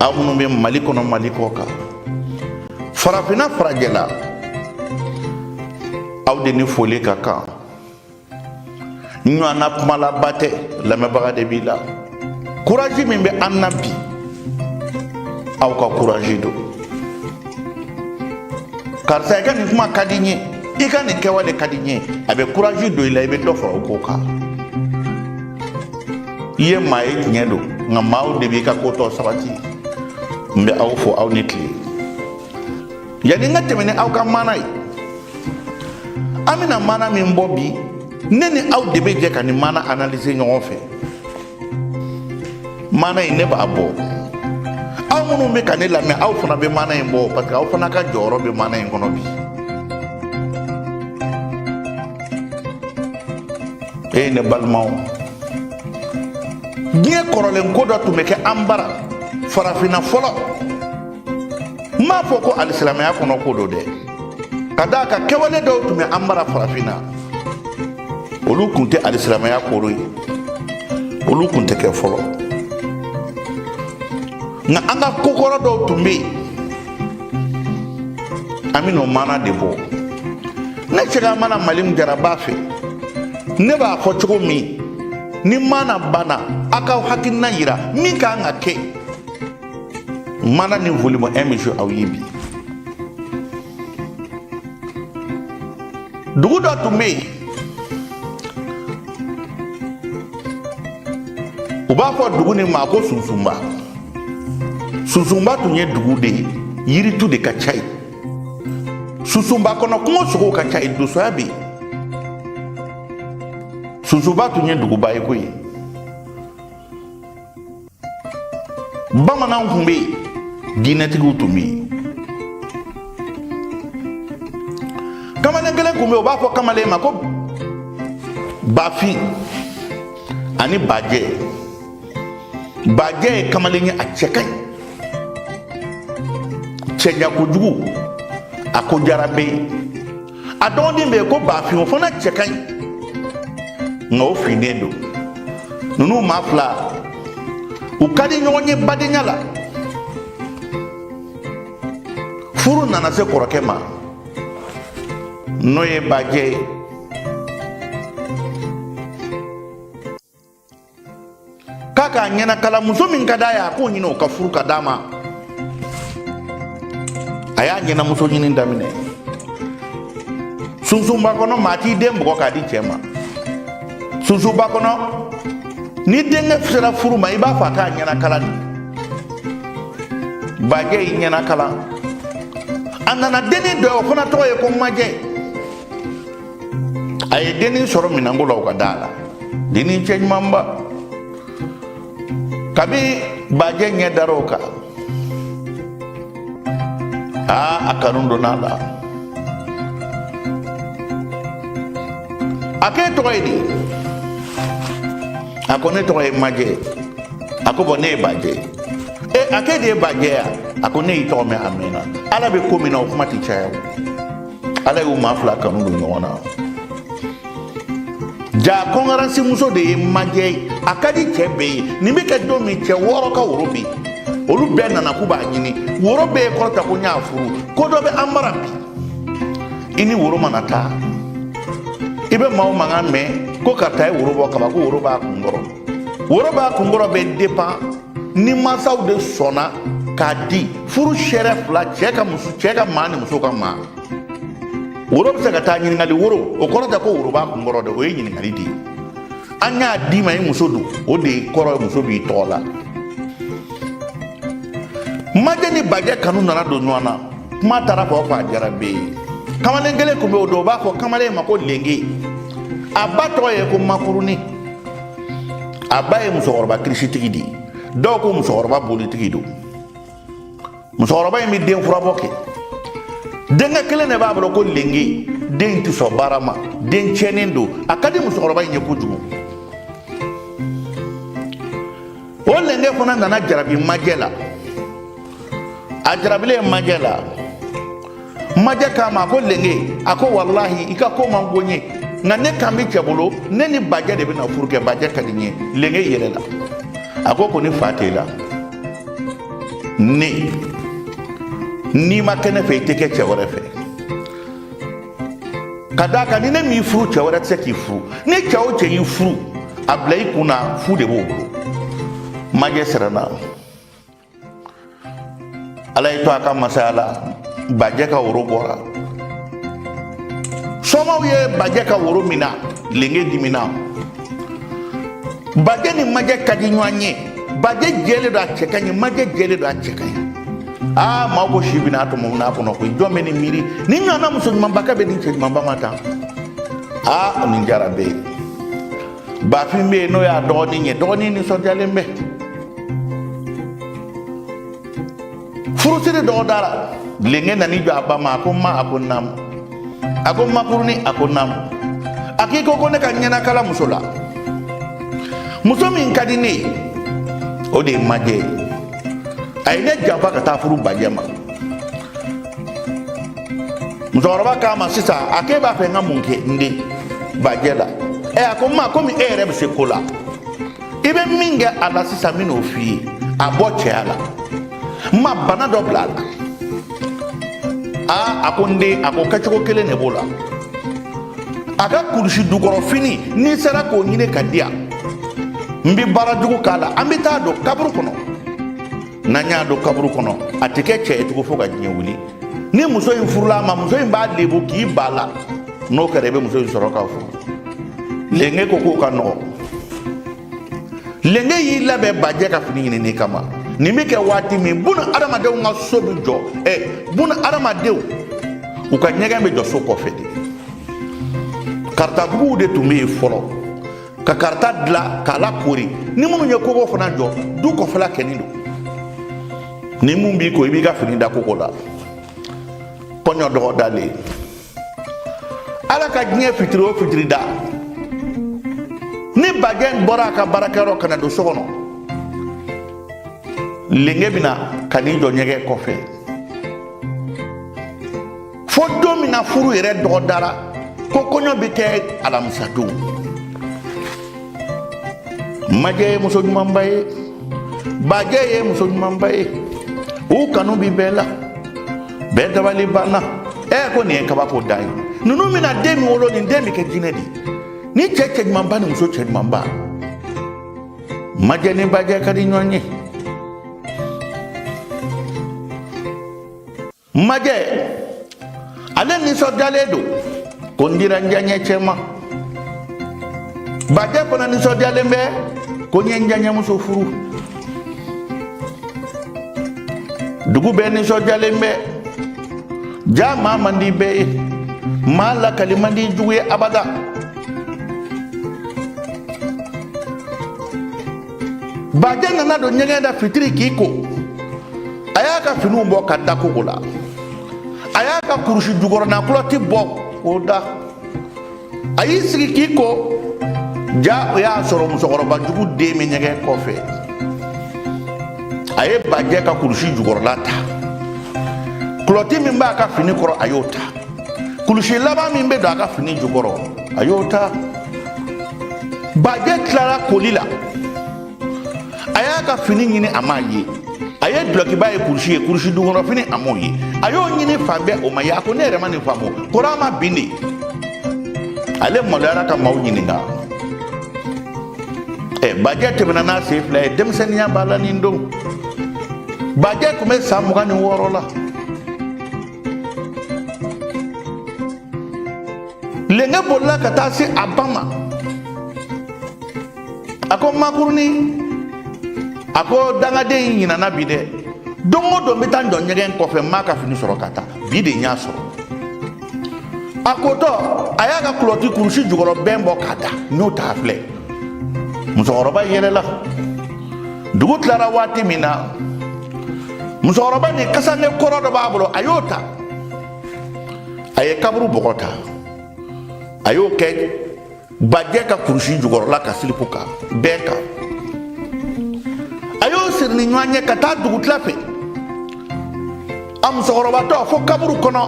aw minnu bɛ mali kɔnɔ mali kɔ kan farafinna farajɛla aw de ni foli ka kan ɲɔgɔnna kumalaba tɛ lamɛnbaga de b'i la courage min bɛ an na bi aw ka courage don karisa i ka nin kuma ka di n ye i ka nin kɛwale ka di n ye a bɛ courage don i la i bɛ dɔ fara o ko kan i ye maa ye tiɲɛ don nka maaw de b'i ka ko tɔ sabati n bɛ aw fo aw ni tile yanni n ka tɛmɛ ni aw ka maana ye an bɛna maana min bɔ bi ne ni aw de bɛ jɛ ka nin maana analyser ɲɔgɔn fɛ maana in ne b'a bɔ aw minnu bɛ ka ne lamɛn aw fana bɛ maana in bɔ parce que aw fana ka jɔyɔrɔ bɛ maana in kɔnɔ bi ee ne balimaw diɲɛ kɔrɔlen ko dɔ tun bɛ kɛ an bara farafinna fɔlɔ n m'a fɔ ko alisilamɛya kɔnɔ ko don dɛ ka d'a kan kɛwale dɔw tun bɛ an bara farafinna olu tun tɛ alisilamɛya koro ye olu tun tɛ kɛ fɔlɔ nka an ka kokɔrɔ dɔw tun bɛ yen an bɛna o maana de bɔ ne cɛka mana mali min jara b'a fɛ ne b'a fɔ cogo min ni maana banna a ka hakilina yira min ka kan ka kɛ maana nin volume 1 bɛ jouer aw ye bi dugu dɔ tun bɛ yen u b'a fɔ dugu nin ma ko sunsunba sunsunba tun ye dugu de ye yiritu de ka ca yen sunsunba kɔnɔ kungo sogow ka ca yen donsoya bɛ yen sunsunba tun ye duguba ye koyi bamananw kun bɛ yen diinɛtigiw tun bɛ yen kamalen kelen kun bɛ yen u b'a fɔ kamalen ma ko bafin ani bajɛ bajɛ ye kamalen ye a cɛ ka ɲi cɛɲa kojugu a ko jara bɛ yen a dɔgɔden bɛ yen ko bafin o fana cɛ ka ɲi nka o finnen don ninnu maa fila u ka di ɲɔgɔn ye badenya la furu nana se kɔrɔkɛ ma n'o ye bajɛ ye k'a k'a ɲɛnakala muso min ka d'a ye a k'o ɲini o ka furu ka d'a ma a y'a ɲɛnamuso ɲini daminɛ sunsunba kɔnɔ maa t'i den bugɔ k'a di cɛ ma sunsunba kɔnɔ ni denkɛ sera furu ma i b'a fɔ a k'a ɲɛnakala de bajɛ y'i ɲɛnakala a nana dennin dɔ ye o fana tɔgɔ ye ko majɛ a ye dennin sɔrɔ minɛnko la u ka da la dennin cɛ ɲumanba kabi bajɛ ɲɛ dara o kan aa a kanu donna a la a k'e tɔgɔ ye di a ko ne tɔgɔ ye majɛ a ko bɔn ne ye bajɛ ye a k'e de ye bajɛ ya a ko ne y'i tɔgɔ mɛn a mɛnna ala bɛ ko min na o kuma tɛ caya o ala y'u maa fila kanu don ɲɔgɔn na ja kɔngarasi muso de ye majɛ ye a ka di cɛ bɛɛ ye nin bɛ kɛ don min cɛ wɔɔrɔ ka woro bɛ yen olu bɛɛ nana k'u b'a ɲini woro bɛɛ ye kɔrɔta ko n y'a furu ko dɔ bɛ an bara bi i ni woro mana taa i bɛ maaw mankan mɛn ko karisa ye woro bɔ kaban ko woro b'a kunkɔrɔ woro b'a kunkɔrɔ bɛ depan ni mansaw de sɔnna k'a di furu seere fila cɛ ka muso cɛ ka maa ni muso ka maa woro bɛ se ka taa ɲininkali woro o kɔrɔ tɛ ko woro b'a kunkɔrɔ dɛ o ye ɲininkali de ye an y'a d'i ma i muso don o de kɔrɔ muso b'i tɔgɔ la majɛ ni bajɛ kanu nana don ɲɔgɔn na kuma taara fɔ fɔ a diyara bɛɛ ye kamalen kelen tun bɛ o don u b'a fɔ kamalen ma ko lenge a ba tɔgɔ ye ko makuruni a ba ye musokɔrɔba kirisitigi de ye dɔw ko musokɔrɔba bolitigi don musokɔrɔba in bɛ den furabɔ kɛ denkɛ kelen de b'a bolo ko lenge den tɛ sɔn baara ma den tiɲɛnen don a ka di musokɔrɔba in ye kojugu o lenge fana nana jarabi majɛ la a jarabilen ye majɛ la majɛ k'a ma a ko lenge a ko walahi i ka ko man go n ye nka ne kan bɛ cɛ bolo ne ni bajɛ de bɛna furu kɛ bajɛ ka di n ye lenge yɛlɛla a ko ko ni fa t'e la ne n'i ma kɛ ne fɛ i tɛ kɛ cɛ wɛrɛ fɛ ka d'a kan ni ne m'i furu cɛ wɛrɛ tɛ se k'i furu ni cɛ o cɛ y'i furu a bila i kun na fu de b'o bolo majɛ siranna ala y'i to a ka masaya la bajɛ ka woro bɔra somaaw ye bajɛ ka woro minɛ lenge dimina bajɛ ni majɛ ka di ɲɔgɔn ye bajɛ jɛlen don a cɛ ka ɲi majɛ jɛlen don a cɛ ka ɲi aa maa ko si bɛna tɔmɔ n'a kɔnɔ koyi jɔn bɛ nin miiri nin ɲɔgɔnna muso ɲumanba ka bɛn nin cɛ ɲumanba ma tan aa nin diyara bɛɛ ye bafin bɛ yen n'o y'a dɔgɔnin ye dɔgɔnin nisɔndiyalen bɛ furusiri dɔgɔ dara lenge nan'i jɔ a ba ma a ko ma a ko naamu a ko makurunin a ko naamu a k'i ko ko ne ka ɲɛnakala muso la muso min ka di ne ye o de ye majɛ ye a ye ne janfa ka taa furu bajɛ ma musokɔrɔba k'a ma sisan a k'e b'a fɛ n ka mun kɛ n den bajɛ la ɛ a ko ma komi e yɛrɛ bɛ se ko la i bɛ min kɛ a la sisan n bɛn'o f'i ye a bɔ cɛya la n ma bana dɔ bila a la aa a ko n den a ko kɛcogo kelen de b'o la a ka kurusi dukɔrɔfini n'i sera k'o ɲini k'a di yan n bɛ baara jugu k'a la an bɛ t'a don kaburu kɔnɔ n'an y'a don kaburu kɔnɔ a tɛ kɛ cɛ ye tugun fo ka diɲɛ wuli ni muso in furula a ma muso in b'a lebu k'i ban a la n'o kɛra i bɛ muso in sɔrɔ k'a furu lenge ko k'o ka nɔgɔ lenge y'i labɛn bajɛ ka fini ɲinini kama nin bɛ kɛ waati min bunu adamadenw ka so bɛ jɔ ɛ bunu adamadenw u ka ɲɛgɛn bɛ jɔ so kɔfɛ dɛ karatabuguw de tun bɛ yen fɔlɔ ka karata dilan k'a lakoori ni minnu ye kogo fana jɔ du kɔfɛla kɛnin don ni mun b'i ko i b'i ka fini da kogo la kɔɲɔ dɔgɔ dalen ala ka diɲɛ fitiri o fitiri da ni bajɛ bɔra a ka baarakɛyɔrɔ ka na don so kɔnɔ lenge bɛna ka n'i jɔ ɲɛgɛn kɔfɛ fo don min na furu yɛrɛ dɔgɔ dara ko kɔɲɔ bɛ kɛ alamisa don majɛ ye muso ɲumanba ye bajɛ ye muso ɲumanba ye u kanu bi bɛɛ la bɛɛ dabali banna ɛ ko nin ye kabako dan ye ninnu bɛna den min wolo nin den bɛ kɛ jinɛ de ye ni cɛ cɛ ɲumanba ni muso cɛ ɲumanba majɛ ni bajɛ ka di ɲɔgɔn ye majɛ ale nisɔndiyalen don ko n dira n diyaɲɛcɛ ma bajɛ fana nisɔndiyalen bɛ ko n ye n diyaɲɛmuso furu dugu bɛɛ nisɔndiyalen bɛ ja maa man di bɛɛ ye maa lakali man di jugu ye abada bajɛ nana don ɲɛgɛn da fitiri k'i ko a y'a ka finiw bɔ ka da kogo la a y'a ka kurusi jukɔrɔna kulɔti bɔ k'o da a y'i sigi k'i ko ja o y'a sɔrɔ musokɔrɔba jugu den bɛ ɲɛgɛn kɔfɛ a ye bajɛ ka kurusi jukɔrɔla ta kulɔti min b'a ka fini kɔrɔ a y'o ta kulusi laban min bɛ don a ka fini jukɔrɔ a y'o ta bajɛ tilara koli la a y'a ka fini ɲini a m'a ye a ye dulɔkiba ye kurusi ye kurusi jukɔrɔ fini a m'o ye a y'o ɲini fan bɛɛ o ma ye a ko ne yɛrɛ ma nin faamu kɔri a ma bin de ale maloyara ka maaw ɲininka ɛ bajɛ tɛmɛna n'a sen fila ye denmisɛnninya b'a la nin don bajɛ tun bɛ san mugan ni wɔɔrɔ la lɛnkɛ bolila ka taa se a ba ma a ko makurunin a ko dangaden in ɲinana bi dɛ don o don n bɛ taa n jɔ ɲɛgɛn kɔfɛ n m'a ka fini sɔrɔ ka taa bi de n y'a sɔrɔ a kotɔ a y'a ka kulɔti kurusi jukɔrɔ bɛn bɔ k'a da n y'o ta filɛ musokɔrɔba yɛlɛla dugu tilara waati min na musokɔrɔba ni kasanke kɔrɔ dɔ b'a bolo a y'o ta a ye kaburu bɔgɔ ta a y'o kɛ bajɛ ka kurusi jukɔrɔla ka silipu kan bɛɛ kan a y'o siri ni ɲɔgɔn ye ka taa dugutila fɛ a musokɔrɔbatɔ fo kaburu kɔnɔ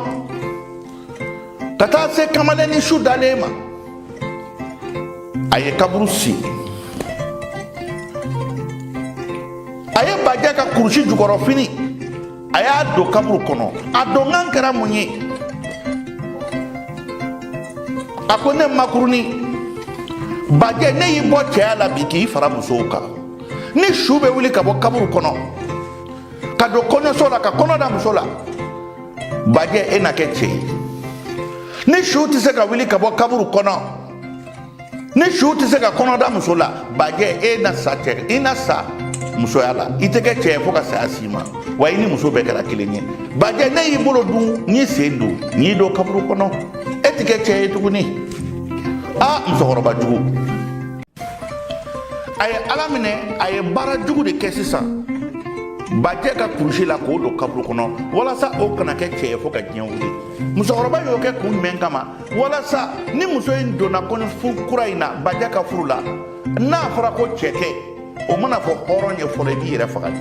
ka taa se kamalennin su dalen ma a ye kaburu sen a ye bajɛ ka kurusi jukɔrɔ fini a y'a don kaburu kɔnɔ a donkan kɛra mun ye a ko ne makurunin bajɛ ne y'i bɔ cɛya la bi k'i fara musow kan ni su bɛ wuli ka bɔ kaburu kɔnɔ ka don kɔɲɔso la ka kɔnɔ da muso la bajɛ e na kɛ cɛ ye ni su tɛ se ka wuli ka bɔ kaburu kɔnɔ ni su tɛ se ka kɔnɔ da muso la bajɛ e na sa cɛ i na sa musoya la i tɛ kɛ cɛ ye fo ka saya s'i ma wa i ni muso bɛɛ kɛra kelen ye bajɛ ne y'i bolo don n'i sen don n'i don kaburu kɔnɔ e tɛ kɛ cɛ ye tuguni a musokɔrɔba jugu a ye ala minɛ a ye baara jugu de kɛ sisan bajɛ ka kurusi la k'o don kaburu kɔnɔ walasa o kana kɛ cɛ ye fo ka diɲɛ wuli musokɔrɔba y'o kɛ kun jumɛn kama walasa ni muso in donna kɔɲɔfuru kura in na bajɛ ka furu la n'a fɔra ko cɛ tɛ o mana fɔ hɔrɔn ye fɔlɔ i b'i yɛrɛ faga de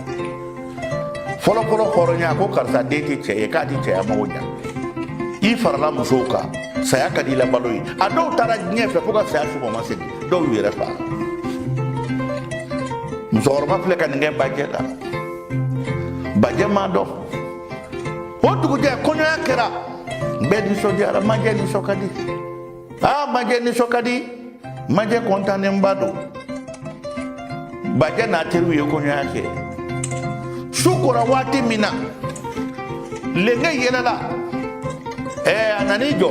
fɔlɔfɔlɔ hɔrɔnya ko karisa den tɛ cɛ ye k'a tɛ cɛya mago ɲa i farala musow kan saya ka di i la balo ye a dɔw taara diɲɛ fɛ fo ka saya s'u ma u ma segin dɔw y'u yɛrɛ faga musokɔrɔba filɛ ka nin kɛ bajɛ la bajɛ m'a dɔn o dugujɛ kɔɲɔya kɛra bɛɛ nisɔndiyara majɛ nisɔn ka di aa majɛ nisɔn ka di majɛ kɔntannenba don bajɛ n'a teriw ye kɔɲɔya kɛ su kora waati min na lenge yɛlɛla ɛɛ a nan'i jɔ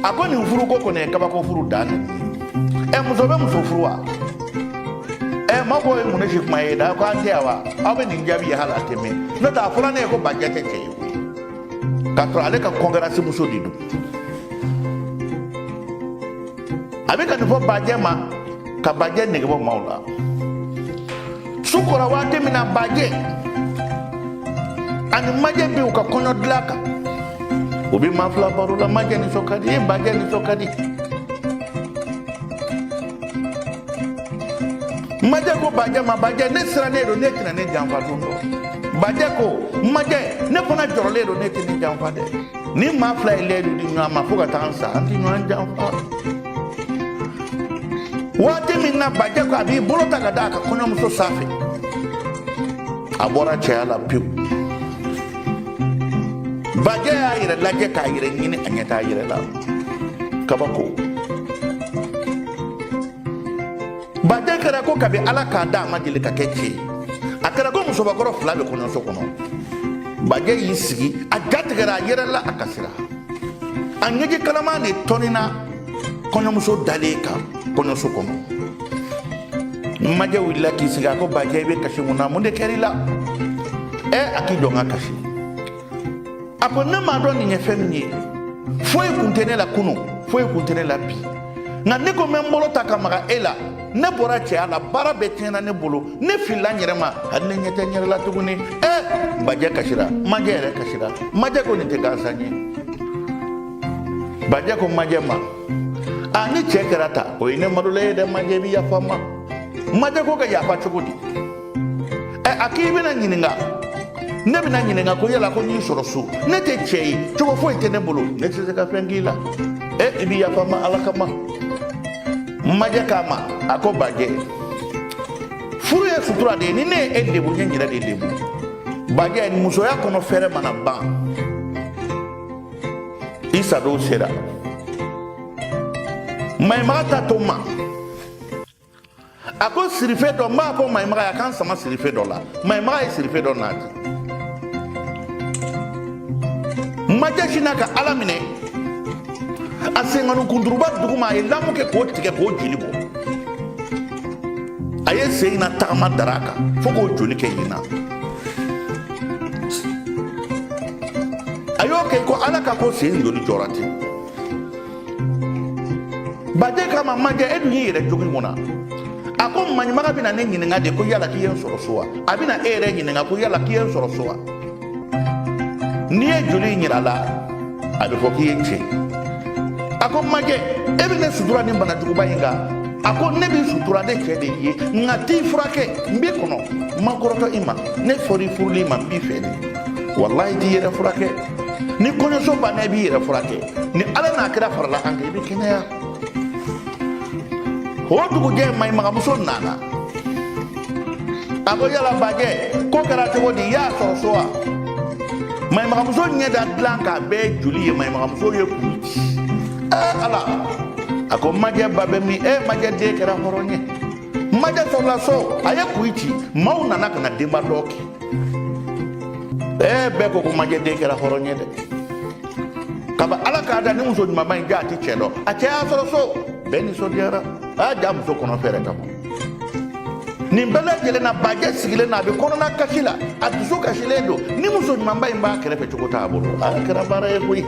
a ko nin furuko kɔni ye kabako furu dan dɛ ɛ muso bɛ muso furu wa ɛ ma ko ye mun ne si kuma ye da ko an tɛ yan wa aw bɛ nin jaabi ye hal'a tɛ mɛn n'o tɛ a fɔra ne ye ko bajɛ tɛ cɛ ye k'a sɔrɔ ale ka kɔnkɛrasi muso de don a bɛ ka nin fɔ bajɛ ma ka bajɛ nege bɔ maaw la su kora waati min na bajɛ ani majɛ bɛ u ka kɔɲɔ dilan kan u bɛ maa fila baro la majɛ nisɔn ka di bajɛ nisɔn ka di majɛ ko bajɛ ma bajɛ ne sirannen don n'e tɛna ne janfa don dɔ bajɛ ko majɛ ne fana jɔrɔlen don n'e tɛ ne janfa dɛ nin maa fila ye lɛyidu di ɲɔgɔn ma fo ka taa an sa an tɛ ɲɔgɔn janfa waati min na bajɛ ko a b'i bolo ta ka da a ka kɔɲɔmuso sanfɛ a bɔra cɛya la pewu bajɛ y'a yɛrɛ lajɛ k'a yɛrɛ ɲini a ɲɛ t'a yɛrɛ la kabako bajɛ kɛra ko kabi ala k'a da a ma deli ka kɛ cɛ ye a kɛra ko musobakɔrɔ fila bɛ kɔɲɔso kɔnɔ bajɛ y'i sigi a jatigɛra a yɛrɛ la a kasira a ɲɛji kalaman de tɔnina kɔɲɔmuso dalen kan kɔɲɔso kɔnɔ majɛ wulila k'i sigi a ko bajɛ i bɛ kasi mun na mun de kɛra i la ɛ a k'i jɔ n ka kasi a ko ne m'a dɔn nin ye fɛn min ye foyi kun tɛ ne la kunu foyi kun tɛ ne la bi nka ne ko n bɛ n bolo ta ka maga e la ne bɔra cɛya la baara bɛɛ tiɲɛna ne bolo ne filila n yɛrɛ ma hali ne ɲɛ tɛ n yɛrɛ la tuguni ɛ bajɛ kasira majɛ yɛrɛ kasira majɛ ko nin tɛ gansan ye bajɛ ko majɛ ma a ni cɛ kɛra tan o ye ne malola ye dɛ majɛ i bɛ yafa n ma majɛ ko ka yafa cogo di ɛ a k'i bɛna ɲininka ne bɛna ɲininka ko yala ko n y'i sɔrɔ so ne tɛ cɛ ye cogo foyi tɛ ne bolo ne tɛ se ka fɛn k'i la ɛ i bɛ yafa n ma ala kama majɛ k'a ma a ko bajɛ furu ye sutura de ye ni ne ye e lebu n ye n yɛrɛ de lebu bajɛ musoya kɔnɔ fɛɛrɛ mana ban i sadon sera maɲuman ta to n ma a ko sirife dɔ n b'a fɔ maɲimaga ye a k'an sama sirife dɔ la maɲimaga ye sirife dɔ nati majɛ sinna ka ala minɛ a senkɔni kunturuba duguma a ye lamu kɛ k'o tigɛ k'o joli bɔ a ye sen na tagama dara kan fo k'o joli kɛ ɲin na a y'o kɛ ko ala ka ko sen joli jɔra ten bajɛ k'a ma majɛ e dun y'i yɛrɛ jogi mun na a ko maɲumaga bɛna ne ɲininka de ko yala k'i ye n sɔrɔ so wa a bɛna e yɛrɛ ɲininka ko yala k'i ye n sɔrɔ so wa n'i ye joli in yira la a bɛ fɔ k'i ye cɛ a ko majɛ e bɛ ne sutura nin bana juguba in kan a ko ne b'i sutura ne cɛ de ye nka t'i furakɛ n b'i kɔnɔ n ma kɔrɔtɔ i ma ne fɔra i furuli ma n b'i fɛ de walayi t'i yɛrɛ furakɛ ni kɔɲɔso banna i b'i yɛrɛ furakɛ ni ala n'a kira farala an kan i bɛ kɛnɛya o dugujɛ mayimagamuso nana a ko yala bajɛ ko kɛra cogo di i y'a sɔrɔ so wa mayimagamuso ɲɛ da dilan kan a bɛɛ joli ye mayimagamuso ye kuli ci ɛɛ ala a ko majɛ ba bɛ min e majɛ de kɛra hɔrɔn ye majɛ sɔrɔla so a ye kuli ci maaw nana ka na denba dɔn kɛ ee bɛɛ ko ko majɛ de kɛra hɔrɔn ye dɛ kaba ala k'a da ni muso ɲumanba in ja a ti cɛ dɔn a cɛ y'a sɔrɔ so bɛɛ nisɔndiyara a y'a ja muso kɔnɔ fɛɛrɛ ka bon nin bɛɛ lajɛlen na bajɛ sigilen na a bɛ kɔnɔna kasi la a dusu kasilen don ni muso ɲumanba in b'a kɛrɛfɛ cogo t'a bolo a kɛra baara ye koyi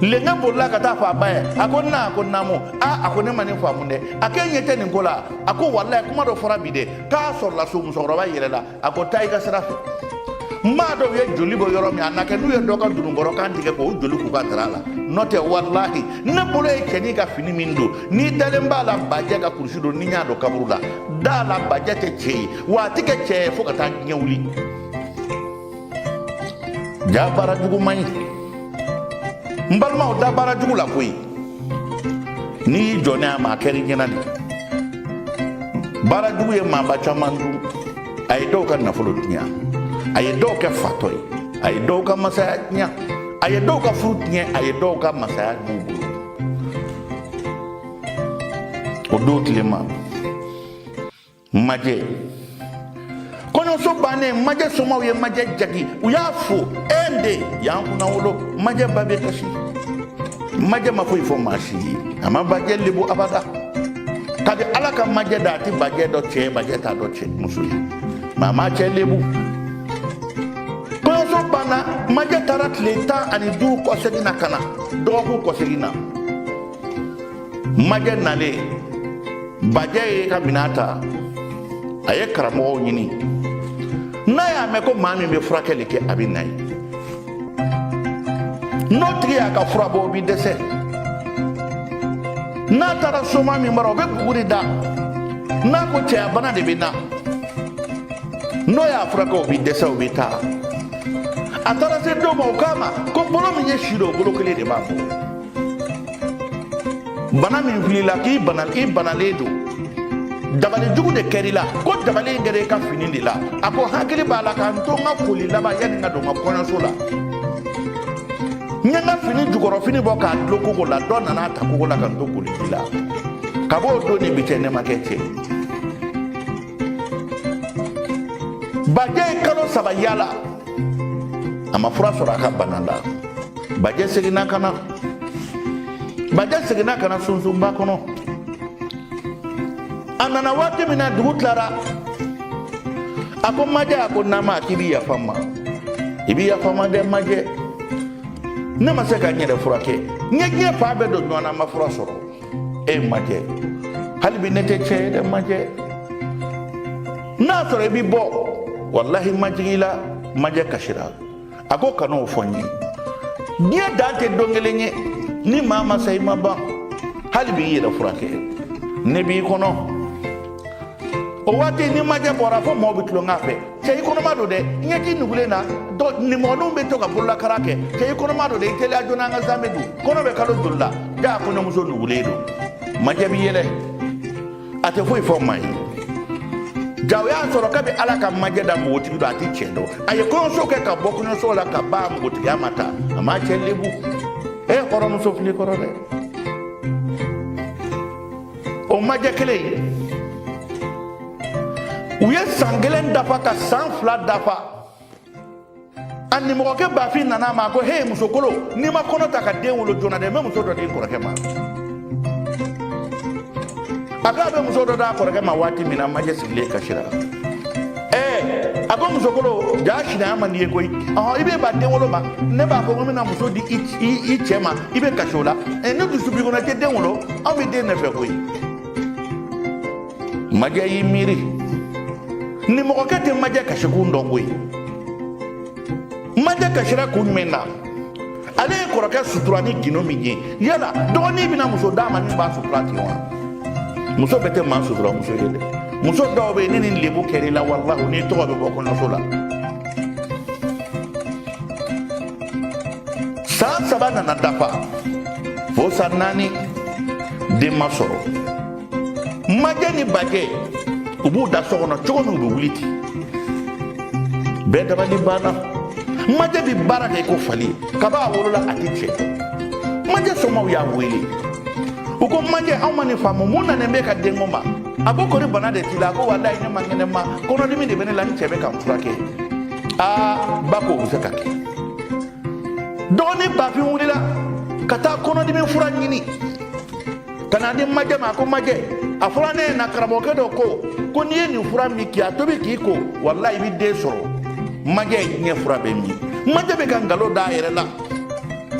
lenka bolila ka taa fɔ a ba ye a ko n na a ko naamu a a ko ne ma nin faamu dɛ a k'e ɲɛ tɛ nin ko la a ko walayi kuma dɔ fɔra bi dɛ k'a sɔrɔla so musokɔrɔba yɛlɛla a ko taa i ka sira fɛ n m'a dɔn u ye joli bɔ yɔrɔ min a na kɛ n'u ye dɔ ka dununkɔrɔ kan tigɛ k'o joli k'u ka dara la n'o tɛ walahi ne bolo ye cɛnin ka fini min don n'i dalen b'a la bajɛ ka kurusi don ni n y'a don kaburu la da la bajɛ tɛ cɛ ye wa a tɛ kɛ cɛ ye fo ka taa diɲɛ wuli ja baara jugu man ɲi n balimaw da baara jugu la koyi n'i jɔnna a ma a kɛr'i ɲɛna de baara jugu ye maaba caman dun a ye dɔw ka nafolo tiɲɛ a ye dɔw kɛ fatɔ ye a ye dɔw ka masaya tiɲɛ a ye dɔw ka furu tiɲɛ a ye dɔw ka masaya dun o don tile ma majɛ kɔɲɔso bannen majɛ somaw ye majɛ jagi u y'a fo e de y'an kunnawolo majɛ ba bɛ kasi majɛ ma foyi fɔ maa si ye a ma bajɛ lebu abada kabi ala ka majɛ da a tɛ bajɛ dɔn cɛ bajɛ t'a dɔn cɛ muso ma a ma cɛ lebu kɔɲɔso banna majɛ taara tile tan ani duuru kɔsegin na ka na dɔgɔkun kɔsegin na majɛ nalen bajɛ ye ka minɛn ta a ye karamɔgɔw ɲini n'a y'a mɛn ko maa min bɛ furakɛli kɛ a bɛ na yen n'o tigi y'a ka fura bɔ o bɛ dɛsɛ n'a taara soma min bara o bɛ buguri da n'a ko cɛya bana de bɛ n na n'o y'a furakɛ o bɛ dɛsɛ o bɛ taa a taara se dɔ ma o k'a ma ko bolo min y'i siri o bolo kelen de b'a bɔ bana min filila k'i banalen don dabali jugu de kɛr'i la ko dabali in kɛra i ka fini de la a ko n hakili b'a la ka n to n ka koli laban yanni n ka don n ka kɔɲɔso la n ye n ka fini jukɔrɔ fini bɔ k'a dulon kogo la dɔ nana a ta kogo la ka n to koli ji la kab'o don ni bi cɛ ne ma kɛ cɛ bajɛ ye kalo saba yala a ma fura sɔrɔ a ka bana la bajɛ seginna ka na bajɛ seginna ka na sunsunba kɔnɔ a nana waati min na dugu tilara a ko majɛ a ko nama k'i bi yafa n ma i bi yafa n ma dɛ majɛ ne ma se ka n yɛrɛ furakɛ n ye diɲɛ fan bɛɛ don ɲɔgɔn na n ma fura sɔrɔ e majɛ hali bi ne tɛ cɛ ye dɛ majɛ n'a sɔrɔ i bi bɔ walahi n m'a jigi i la majɛ kasira a ko kan'o fɔ n ye diɲɛ dan tɛ don kelen ye ni maa ma sa i ma ban hali b'i yɛrɛ furakɛ ne b'i kɔnɔ o waati ni majɛ bɔra fo mɔɔw bɛ tulonkɛ a fɛ cɛ i kɔnɔma don dɛ ɲɛji nugulen na don nimɔgɔninw bɛ to ka bololakara kɛ cɛ i kɔnɔma don dɛ i teliya joona an ka zamɛ dun kɔnɔ bɛ kalo joli la jaa kɔɲɔmuso nugulen don majɛ bi yɛlɛ a tɛ foyi fɔ maa ye jaa o y'a sɔrɔ kabi ala ka majɛ da npogotigi don a ti cɛ dɔn a ye kɔɲɔso kɛ ka bɔ kɔɲɔso la ka ban a npogotigiya ma ta a m'a cɛ lebu e kɔrɔmuso fili kɔrɔ dɛ o majɛ kelen ye u ye san kelen dafa ka san fila dafa a nimɔgɔkɛ bafin nana a ma a ko he musokolo n'i ma kɔnɔ ta ka den wolo joona dɛ n bɛ muso dɔ di n kɔrɔkɛ ma a ko a bɛ muso dɔ d'a kɔrɔkɛ ma waati min na majɛ sigilen kasira ɛɛ a ko musokolo jaa sinaya man d'i ye koyi ɔhɔn i bɛ ban den wolo ma ne b'a fɔ ko n bɛna muso di i cɛ ma i bɛ kasi o la n'i dusu b'i kɔnɔ i tɛ den wolo anw bɛ den de fɛ koyi majɛ y'i miiri nimɔgɔkɛ tɛ majɛ kasikun dɔn koyi majɛ kasira kun jumɛn na ale ye kɔrɔkɛ sutura ni gindo min ye yala dɔgɔnin bɛna muso d'a ma min b'a sutura ten wa muso bɛɛ tɛ maa sutura muso ye dɛ muso dɔw bɛ yen ni nin lebu kɛra i la walahi n'i tɔgɔ bɛ bɔ kɔɲɔso la san saba nana dafa fo san naani den ma sɔrɔ majɛ ni bajɛ u b'u da so kɔnɔ cogo min u bɛ wuli ten bɛɛ dabali banna majɛ bɛ baara kɛ i ko fali kaba a wolola a tɛ cɛ majɛ somaaw y'a wele u ko majɛ anw ma nin faamu mun nanen b'i ka denko ma a ko kori bana de t'i la a ko walayi ne man kɛnɛ ma kɔnɔdimi de bɛ ne la n cɛ bɛ ka n furakɛ aa ba ko o bɛ se ka kɛ dɔgɔnin bafin wulila ka taa kɔnɔdimi fura ɲini ka n'a di majɛ ma a ko majɛ a fɔra ne ɲɛ na karamɔgɔkɛ dɔ ko ko n'i ye nin fura min k'i a tobi k'i ko walayi i bɛ den sɔrɔ majɛ ye diɲɛ fura bɛɛ min majɛ bɛ ka nkalon da a yɛrɛ la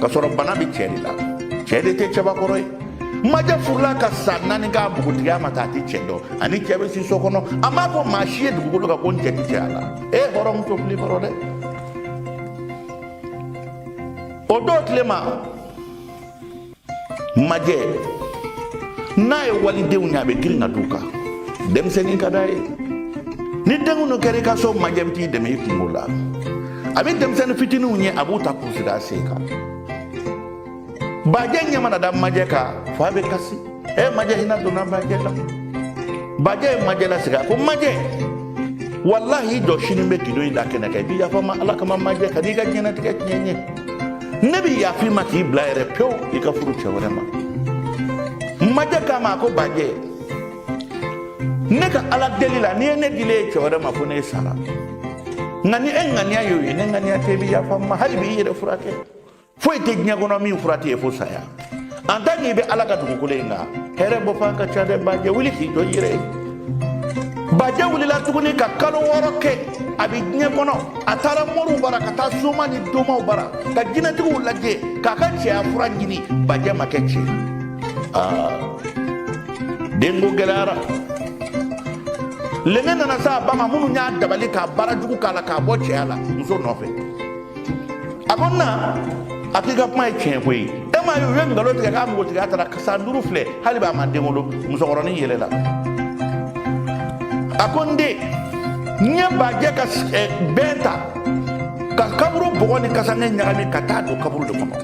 k'a sɔrɔ bana bɛ cɛ de la cɛ de tɛ cɛbakɔrɔ ye majɛ furula ka san naani k'a npogotigiya ma ta a tɛ cɛ dɔn a ni cɛ bɛ si so kɔnɔ a m'a fɔ maa si ye dugukolo kan ko n cɛ tɛ cɛ a la e hɔrɔnmuso fili kɔrɔ dɛ o don tile ma majɛ n'a ye walidenw ye a bɛ girin ka d'u kan denmisɛnnin ka d'a ye ni denkundu kɛra i ka so majɛ bɛ t'i dɛmɛ i kunko la a bɛ denmisɛnnin fitininw ye a b'u ta k'u sigi a sen kan bajɛ ɲɛ mana da majɛ kan f'a bɛ kasi ɛ eh, majɛ hinɛ donna bajɛ la bajɛ ye majɛ lasigi a ko majɛ walahi i jɔ sini n bɛ gindo in da kɛnɛ kan i bɛ yafa n ma ala kama majɛ kan'i ka diɲɛnatigɛ tiɲɛ n ye ne bɛ yaf'i ma k'i bila yɛrɛ pewu i ka furu cɛ wɛrɛ ma majɛ k'a ma a ko bajɛ ne ka ala deli la n'i ye ne dilen ye cɛ wɛrɛ ma fo ne sara nka ni e ŋaniya y'o ye ne ŋaniya tɛ i bɛ yafa n ma hali bi i yɛrɛ furakɛ foyi tɛ diɲɛ kɔnɔ min fura tɛ ye fo saya en tant que i bɛ ala ka dugukolo in kan hɛrɛ bɔ fan ka ca dɛ bajɛ wuli k'i jɔ i yɛrɛ ye bajɛ wulila tuguni ka kalo wɔɔrɔ kɛ a bɛ diɲɛ kɔnɔ a taara moriw bara ka taa soma ni domaw bara ka jinɛtigiw lajɛ k'a ka cɛya fura ɲini bajɛ ma kɛ cɛ ye aa denko gɛlɛyara lenge nana se a ba ma minnu y'a dabali ka baara jugu k'a la k'a bɔ cɛya la muso nɔfɛ a ko na a k'i ka kuma ye tiɲɛ koyi e m'a ye u ye nkalon tigɛ k'a npogotigiya taara san duuru filɛ hali b'a ma den wolo musokɔrɔnin yɛlɛla a ko n den n ye bajɛ ka bɛn ta ka kaburu bɔgɔ ni kasange ɲagami ka taa don kaburu de kɔnɔ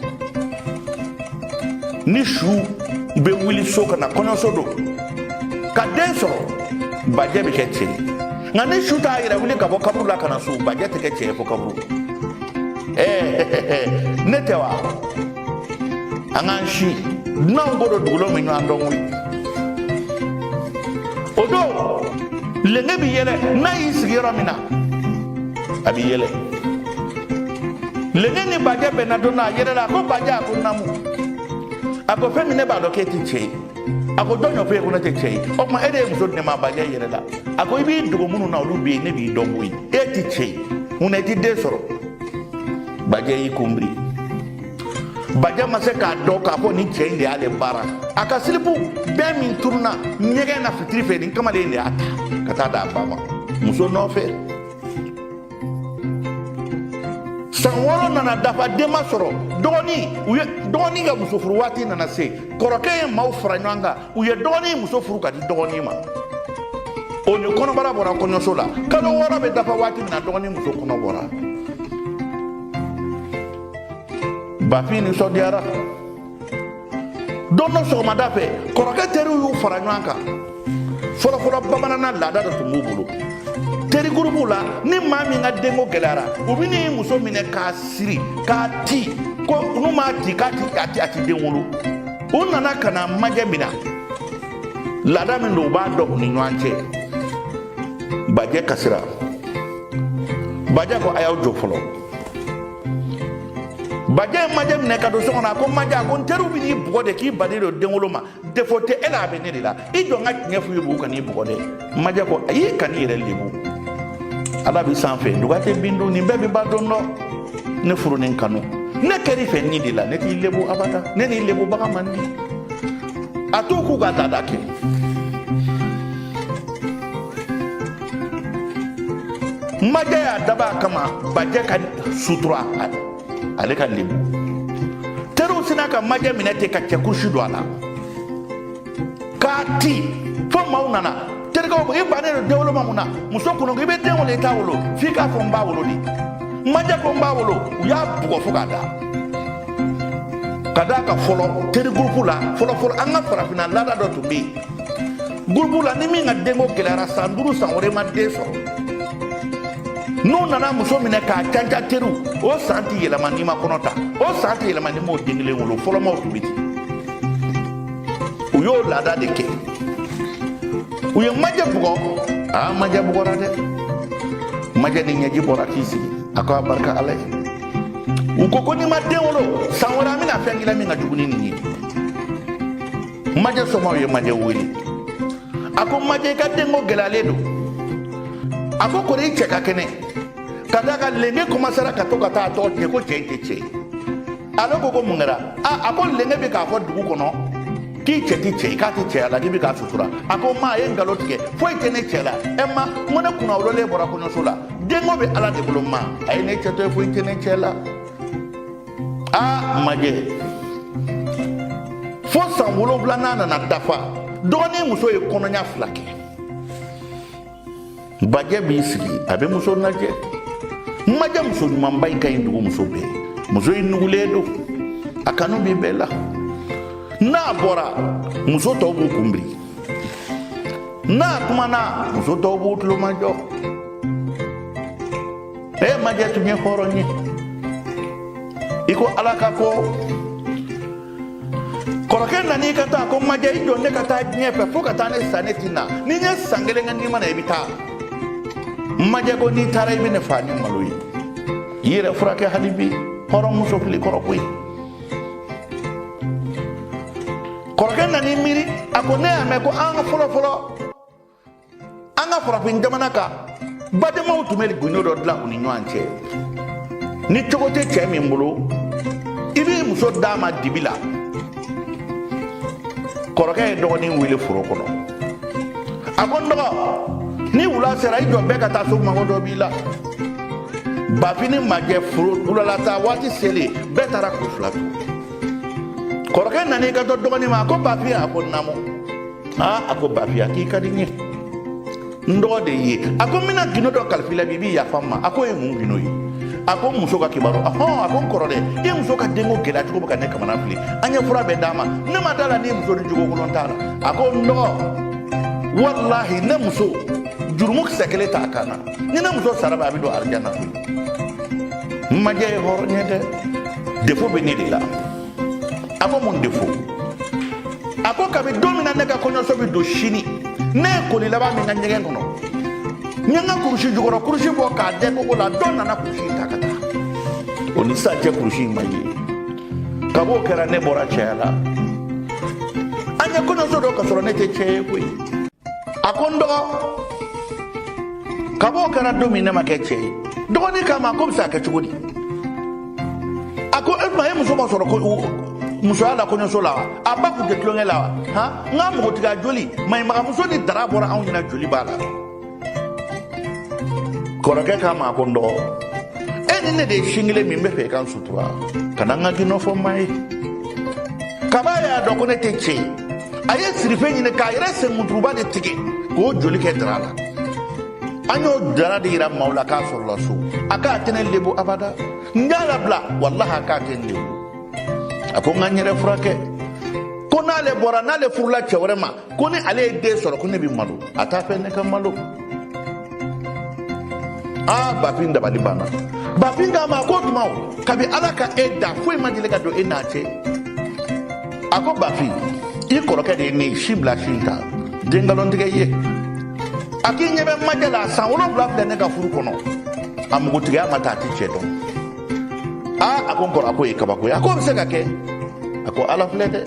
ni su bɛ wuli so ka na kɔɲɔso don ka den sɔrɔ bajɛ bɛ kɛ cɛ ye nka ni su t'a yɛrɛ wuli ka bɔ kaburu la ka na so bajɛ tɛ kɛ cɛ ye fo kaburu ɛɛ ne tɛ wa an k'an si dunanw ko don dugulenw bi ɲɔgɔn dɔn koyi o don lenge bi yɛlɛ n'a y'i sigi yɔrɔ min na a bi yɛlɛ lenge ni bajɛ bɛnna don na a yɛlɛla a ko bajɛ a ko namu a ko fɛn min ne b'a dɔn k'e tɛ cɛ ye a ko jɔn y'o f'e ye ko ne tɛ cɛ ye o tuma e de ye muso di ne ma bajɛ yɛlɛla a ko i b'i dogo minnu na olu bɛ yen ne b'i dɔn koyi e tɛ cɛ ye mun na i tɛ den sɔrɔ bajɛ y'i kunbiri bajɛ ma se k'a dɔn k'a fɔ nin cɛ in de y'ale baara a ka silipu bɛɛ min tununna ɲɛgɛn na fitiri fɛ nin kamalen in de y'a ta ka taa d'a ba ma muso nɔfɛ san wɔɔrɔ nana dafa den ma sɔrɔ dɔgɔnin u ye dɔgɔnin ka muso furu waati nana se kɔrɔkɛ ye maaw fara ɲɔgɔn kan u ye dɔgɔnin muso furu ka di dɔgɔnin ma o ni kɔnɔbara bɔra kɔɲɔso la kalo wɔɔrɔ bɛ dafa waati min na dɔgɔnin muso kɔnɔ bɔra bafin nisɔndiyara don dɔ sɔgɔmada fɛ kɔrɔkɛ teriw y'u fara ɲɔgɔn kan fɔlɔfɔlɔ bamanana laada dɔ tun b'u bolo teri gurupuw la ni maa min ka denko gɛlɛyara u bɛ n'i muso minɛ k'a siri k'a ti ko n'u m'a ti k'a ti a ti a ti den wolo u nana ka na majɛ minɛ laada min don u b'a dɔn u ni ɲɔgɔn cɛ bajɛ kasira bajɛ ko a y'aw jɔ fɔlɔ bajɛ ye majɛ minɛ ka don so kɔnɔ a ko majɛ a ko n teriw bɛ n'i bugɔ de k'i bannen don denwolo ma defo tɛ e la a bɛ ne de la i jɔ n ka tiɲɛ f'u ye b'u kan'i bugɔ dɛ majɛ ko ayi kan'i yɛrɛ lebu ala bɛ sanfɛ duga tɛ bin dun nin bɛɛ bɛ ban don dɔ ne furu ni kanu ne kɛr'i fɛ nin de la ne t'i lebu abada ne n'i lebubaga man di a t'u k'u ka laada kɛ majɛ y'a dabɔ a kama bajɛ ka sutura ale ka lebu teriw sinna ka majɛ minɛ ten ka cɛ kurusi don a la k'a ti fo maaw nana terikɛw ko i bannen don denwolo ma mun na muso kunu ko i bɛ den wolo i t'a wolo f'i k'a fɔ n b'a wolo de majɛ ko n b'a wolo u y'a bugɔ fo k'a da ka d'a kan fɔlɔ teri gurupu la fɔlɔfɔlɔ an ka farafinna laada dɔ tun bɛ yen gulubu la ni min ka denko gɛlɛyara san duuru san wɔɔrɔ ma den sɔrɔ n'u nana muso minɛ k'a canca teriw o san tɛ yɛlɛma n'i ma kɔnɔ ta o san tɛ yɛlɛma n'i m'o den kelen wolo fɔlɔmaw tun bɛ ten u y'o laada de kɛ u ye majɛ bugɔ aa majɛ bugɔra dɛ majɛ ni ɲɛji bɔra k'i sigi a ko a barika ala ye u ko ko n'i ma den wolo san wɛrɛ an bɛna fɛn k'i la min ka jugu ni nin ye majɛ somɔgɔw ye majɛ wele a ko majɛ i ka denko gɛlɛyalen don a ko kɔri i cɛ ka kɛnɛ ka d'a kan lenge kɔmansera ka to ka taa a tɔgɔ tiɲɛ ko cɛ in tɛ cɛ ye ale ko ko mun kɛra a a ko lenge bɛ k'a fɔ dugu kɔnɔ k'i cɛ ti cɛ ye k'a ti cɛya la k'i bɛ k'a sutura a ko ma a ye nkalon tigɛ foyi tɛ ne cɛ la ɛ ma n ko ne kunnawololen bɔra kɔɲɔso la denko bɛ ala de bolo ma a ye ne cɛ to yen foyi tɛ ne cɛ la aa majɛ fo san wolonwula n'a nana dafa dɔgɔnin muso ye kɔnɔɲa fila kɛ bajɛ b'i sigi a bɛ muso lajɛ majɛ muso ɲumanba in ka ɲi dugu muso bɛɛ muso in nugulen don a kanu bɛ bɛɛ la n'a bɔra muso tɔw b'u kunbiri n'a kumana muso tɔw b'u tulomajɔ e majɛ tun ye hɔrɔn ye i ko ala ka ko kɔrɔkɛ nan'i kanto a ko majɛ i jɔ ne ka taa diɲɛ fɛ fo ka taa ne sa ne ti na ni n ye san kelen kɛ ni n ma na i bɛ taa majɛ ko n'i taara i bɛ ne faa ni malo ye i yɛrɛ furakɛ hali bi hɔrɔn muso filɛ i kɔrɔ koyi kɔrɔkɛ nan'i miiri a ko ne y'a mɛn ko an ka fɔlɔ fɔlɔ an ka farafin jamana kan badenmaw tun bɛ gundo dɔ dilan u ni ɲɔgɔn cɛ ni cogo tɛ cɛ min bolo i b'i muso d'a ma dibi la kɔrɔkɛ ye dɔgɔnin wele foro kɔnɔ a ko n dɔgɔ ni wula sera i jɔ bɛɛ ka taa so n mago dɔ b'i la bafin ni majɛ foro wulalata waati selen bɛɛ taara k'u fila to kɔrɔkɛ nan'i kanto dɔgɔnin ma a ko bafin a ko naamu aa a ko bafin a k'i ka di n ye n dɔgɔ de ye a ko n bɛna gindo dɔ kalif'i la bi i b'i yafa n ma a k'o ye mun gindo ye a ko n muso ka kibaru ahɔn a ko n kɔrɔ dɛ i muso ka denko gɛlɛya cogo bɛ ka ne kamana fili an ye fura bɛɛ d'a ma ne ma d'a la n'i muso nin jogokolon t'a la a ko n dɔgɔ walahi ne muso jurumu kisɛ kelen t'a kan na ni ne muso sara bi a bɛ don arijana koyi majɛ ye hɔrɔn ye dɛ defo bɛ ne de la a ko mun de fo a ko kabi don min na ne ka kɔɲɔso bɛ don sini ne ye koli laban min kɛ ɲɛgɛn kɔnɔ n ye n ka kurusi jukɔrɔ kurusi bɔ k'a dɛn kogo la dɔ nana kurusi ta ka taa o ni sisan cɛ kurusi in ma ye kab'o kɛra ne bɔra cɛya la an ye kɔɲɔso don k'a sɔrɔ ne tɛ cɛ ye koyi a ko n dɔgɔ kab'o kɛra don min ne ma kɛ cɛ ye dɔgɔnin k'a ma k'o bɛ se ka kɛ cogo di a ko o tuma e muso ma sɔrɔ musoya la kɔɲɔso la wa a ba kun tɛ tulonkɛ la wa han n ka npogotigiya joli maɲɔmaganmuso ni dara bɔra anw ɲɛna joli b'a la kɔrɔkɛ k'a ma ko n dɔgɔ e ni ne de ye sin kelen min n bɛ fɛ i ka n sutura kana n ka gundo fɔ maa ye kab'a y'a dɔn ko ne tɛ cɛ ye a ye sirife ɲini k'a yɛrɛ senmuturuba de tigɛ k'o joli kɛ dara la an y'o dara de yira maaw la k'a sɔrɔla so a k'a tɛ ne lebu abada n y'a labila walahi a k'a tɛ n lebu a ko n ka n yɛrɛ furakɛ ko n'ale bɔra n'ale furula cɛ wɛrɛ ma ko ni ale ye den sɔrɔ ko ne bɛ malo a t'a fɛ ne ka malo aa bafin dabali banna bafin k'a ma ko tuma o kabi ala ka e da foyi ma deli ka don e n'a cɛ a ko bafin i kɔrɔkɛ de ye ne ye sin bila sin ta n tɛ nkalon tigɛ i ye a k'i ɲɛ bɛ majɛ la san wolonwula filɛ ne ka furu kɔnɔ a npogotigiya ma ta a tɛ cɛ dɔn aa a ko n kɔrɔ a k'o ye kabako ye a k'o bɛ se ka kɛ a ko ala filɛ dɛ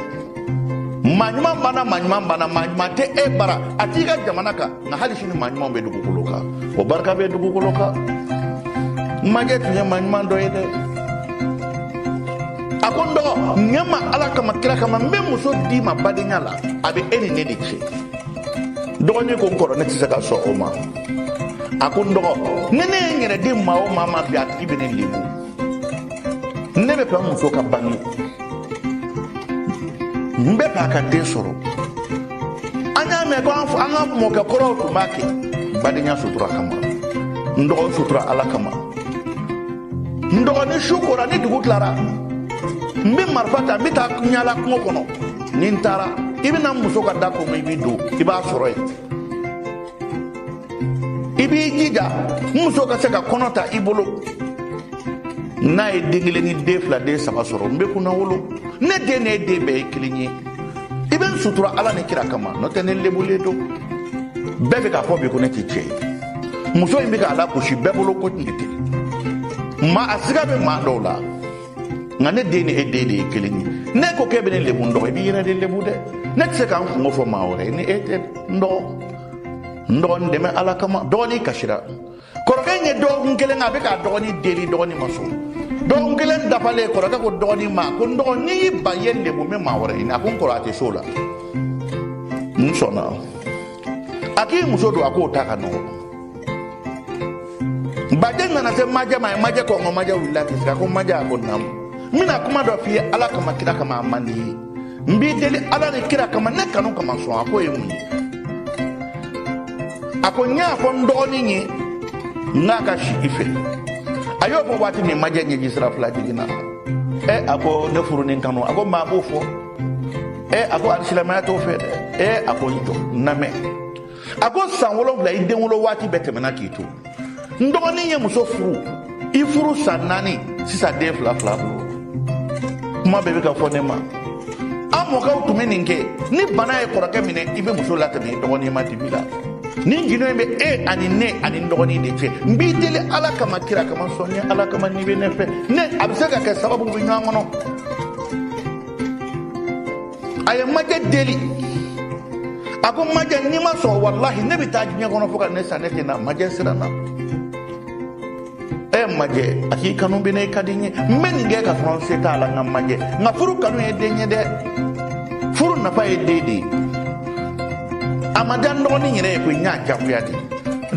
maa ɲuman banna maa ɲuman banna maa ɲuman tɛ e bara a t'i ka jamana kan nka hali sini maa ɲumanw bɛ dugukolo kan o barika bɛ dugukolo kan majɛ tun ye maa ɲuman dɔ ye dɛ a ko n dɔgɔ ɲɛ n ma ala kama kira kama n bɛ muso d'i ma badenya la a bɛ e ni ne de cɛ dɔgɔnin ko n kɔrɔ ne tɛ se ka sɔn o ma a ko n dɔgɔ ni ne ye n yɛrɛ di maa o maa ma bi a tigi bɛ ne lebu ne bɛ fɛ n muso ka bange n bɛ fɛ a ka den sɔrɔ an y'a mɛn ko an ka mɔkɛ kɔrɔw tun b'a kɛ badenya sutura kama n dɔgɔ n sutura ala kama n dɔgɔ ni su kora ni dugu tilara n bɛ marifa ta n bɛ taa n yaala kungo kɔnɔ ni n taara i bɛ na n muso ka da kɔnɔ i b'i don i b'a sɔrɔ yen i b'i jija n muso ka se ka kɔnɔ ta i bolo n'a ye den kelen ni den fila den saba sɔrɔ n bɛ kunnawolo ne den ni e den bɛɛ ye kelen ye i bɛ n sutura ala ni kira kama n'o tɛ ne lebulen don bɛɛ bɛ k'a fɔ bi ko ne tɛ cɛ ye muso in bɛ k'a lagosi bɛɛ bolo ko nin tɛ maa a siga bɛ maa dɔw la nka ne den ni e den de ye kelen ye n'e ko k'e bɛ ne lebu n dɔgɔ i b'i yɛrɛ de lebu dɛ ne tɛ se ka n kunko fɔ maa wɛrɛ ye ni e tɛ n dɔgɔ n dɔgɔ n dɛmɛ ala kama dɔgɔnin kasira kɔrɔkɛ in ye dɔgɔkun kelen a bɛ k'a dɔgɔnin deli dɔgɔnin ma sɔn dɔgɔkun kelen dafalen kɔrɔkɛ ko dɔgɔnin ma ko n dɔgɔ n'i y'i ban i ye lebu n bɛ maa wɛrɛ ɲini a ko n kɔrɔ a tɛ s'o la n sɔnna a k'i muso dun a k'o ta ka nɔgɔ bajɛ nana se majɛ ma a ye majɛ kɔnkɔn majɛ wulila k'i sigi a ko majɛ a ko naamu n bɛna kuma dɔ f'i ye ala kama kira kama a man di n ye n b'i deli ala ni kira kama ne kanu kama sɔn a k'o ye mun ye a ko n y'a fɔ n dɔgɔnin ye n k'a ka si i fɛ a y'o fɔ waati min majɛ ɲɛji sira fila jiginna ɛ a ko ne furu ni n kanu a ko maa b'o fɔ ɛ a ko alisilamaya t'o fɛ dɛ ɛ a ko n jɔ n lamɛn a ko san wolonwula i den wolo waati bɛɛ tɛmɛna k'i to n dɔgɔnin ye muso furu i furu san naani sisan den fila fila bolo kuma bɛɛ bɛ ka fɔ ne ma an mɔkɛw tun bɛ nin kɛ ni bana ye kɔrɔkɛ minɛ i bɛ muso latɛmɛ i dɔgɔnin ma dibi la nin gindo in bɛ e ani ne ani n dɔgɔnin de cɛ n b'i deli ala kama kira kama sɔn n ye ala kama n'i bɛ ne fɛ ne a bɛ se ka kɛ sababu bɛ ɲɔgɔn kɔnɔ a ye majɛ deli a ko majɛ n'i ma sɔn walahi ne bɛ taa diɲɛ kɔnɔ fo ka ne sa ne tɛ na majɛ siranna ɛ majɛ a k'i kanu bɛ n na i ka di n ye n bɛ nin kɛ ka sɔrɔ n se t'a la nka majɛ nka furu kanu ye den ye dɛ furu nafa ye den de ye a ma diya n dɔgɔnin yɛrɛ ye koyi n y'a jagoya de